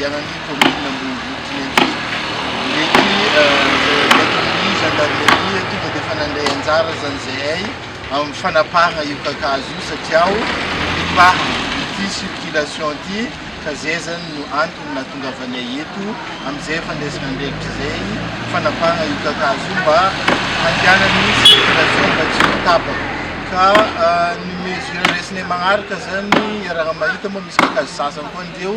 Ianan'ny kaominina Ambohimboto Tinenty. Ireto ny aton'ny zandarimaria tonga dia efa nandray anjara aza izahay amin'ny fanapahana io kakazo io satria nibahana ity circulation ity ka izay zany no antony nahatongavanay eto amin'izay fandraisana andraikitra izay fanapahana io kakazo io mba handehanan'ny circulation mba tsy ho tapaka. Ka ny mesure raisinay manaraka izany iaraha-mahita moa misy kakazo sasany koa an'ireo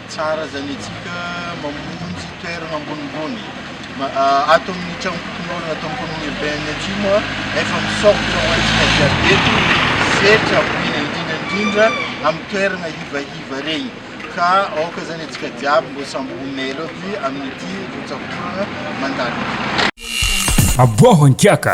Tsara zany antsika mamonjy toerana ambonimbony. Ato amin'ny tranom-pokonolona ato amin'ny commune urbaine Atsimo efa misokatra ho antsika jiaby eto ny setra omena indrindra indrindra amin'ny toerana hivaihiva regny. Ka aoka zany antsika jiaby mbô samby ho mailo aby amin'ity rotsak'oragna mandalo ity. Aboaho an-kiaka!